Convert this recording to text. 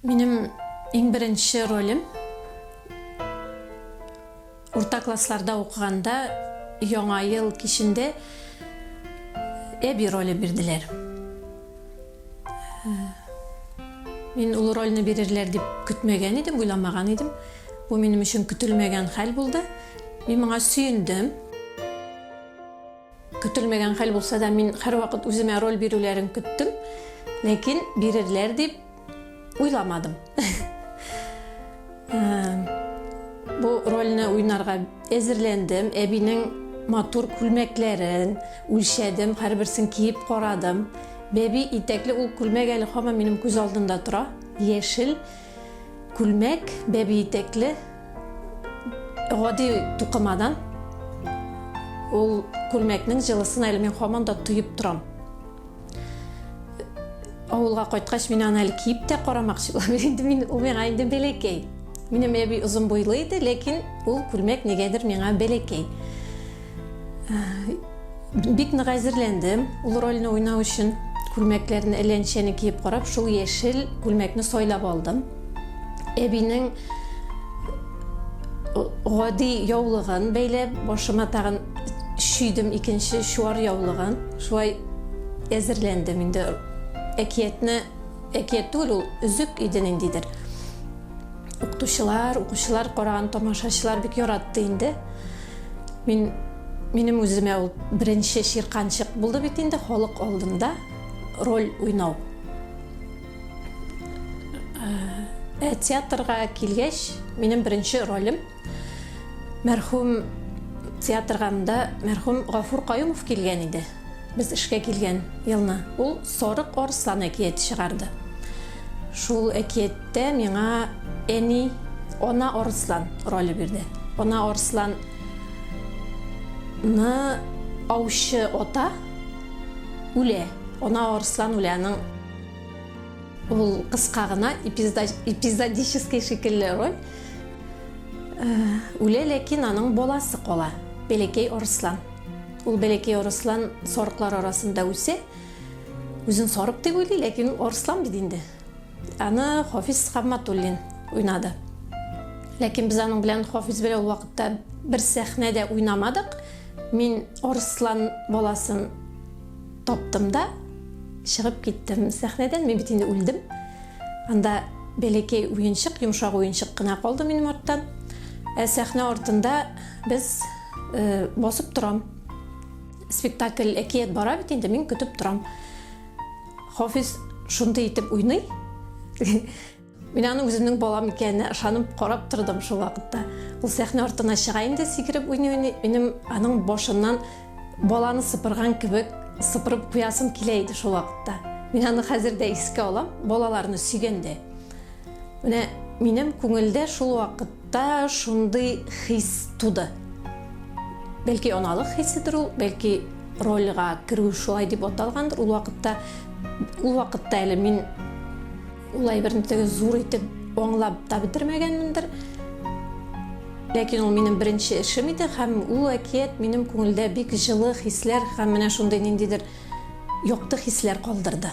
Минем иң беренче ролем, урта классларда укыганда, Яңа ел кичендә әби роле бирделәр. Мин ул рольне бирерләр дип көтмәгән идем, уйламаган идем. Бу минем өчен көтелмәгән хәл булды. Мин моңа сөендем. Көтелмәгән хәл булса да, мин һәрвакыт үземә роль бирүләрен көттем, ләкин бирерләр дип уйламадым. Бу рольне уйнарга әзерләндем, әбинең матур күлмәкләрен үлчәдем, һәрберсен киеп карадым. Бәби итәкле ул күлмәк әле һаман минем күз алдында тора, яшел. Күлмәк, бәби итәкле, гади тукымадан. Ул күлмәкнең җылысын әле мин һаман да тоеп торам. Авылга кайткач, мин аны әле киеп тә карамакчы булам. Инде мин, ул миңа инде бәләкәй. Минем әби озын буйлы иде, ләкин ул күлмәк нигәдер миңа бәләкәй. Бик нык әзерләндем ул рольне уйнау өчен. Күлмәкләрне әлләнчәне киеп карап, шул яшел күлмәкне сайлап алдым. Әбинең гади яулыгын бәйләп, башыма тагын шүйдем икенче чуар яулыгын. Шулай әзерләндем инде. Әкиятне, әкият түгел ул, өзек иде ниндидер. Укытучылар, укучылар караган тамашачылар бик яратты инде. Мин минем үземә ул беренче чирканчык булды бит инде халык алдында роль уйнау. Ә э, театрга килгәч, минем беренче ролем мәрхүм театргамда мәрхүм Гафур Каюмов килгән иде. Без эшкә килгән елны ул Сарык арыслан әкияте чыгарды. Шул әкияттә миңа әни Ана арыслан роле бирде. Ана арыслан ны аучы ата үлә. Ана арыслан үлә. Аның ул кыска гына эпизодический шикелле роль. Э, үлә, ләкин аның баласы кала. Бәләкәй арыслан. Ул бәләкәй арыслан сарыклар арасында үсә. Үзен сарык дип уйлый, ләкин ул арыслан бит инде. Аны Хафиз Хамматуллин уйнады. Ләкин без аның белән Хафиз белән ул вакытта бер сәхнә дә уйнамадык. Мин арыслан баласын таптым да чыгып киттем сәхнәдән. Мин бит инде үлдем. Анда бәләкәй уенчык, йомшак уенчык кына калды минем арттан. Ә сәхнә артында Без басып торам. Спектакль әкият бара бит инде, мин көтеп торам. Хафиз шундый итеп уйный. Мин аның үземнең балам икәненә ышанып карап тордым шул вакытта. Ул сәхнә артына чыга инде сикереп уйный уйный, минем аның башыннан баланы сыпырган кебек сыпырып куясым килә иде шул вакытта. Мин аны хәзер дә искә алам, балаларны сөйгәндә. Менә минем күңелдә шул вакыт Та шундый хис туды. Бәлки аналык хиседер ул, бәлки рольга керү шулай дип аталгандыр ул вакытта. Ул вакытта әле мин ул әйберне теге зур итеп аңлап та бетермәгәнмендер. Ләкин ул минем беренче эшем иде һәм ул әкият минем күңелдә бик җылы хисләр һәм менә шундый ниндидер якты хисләр калдырды.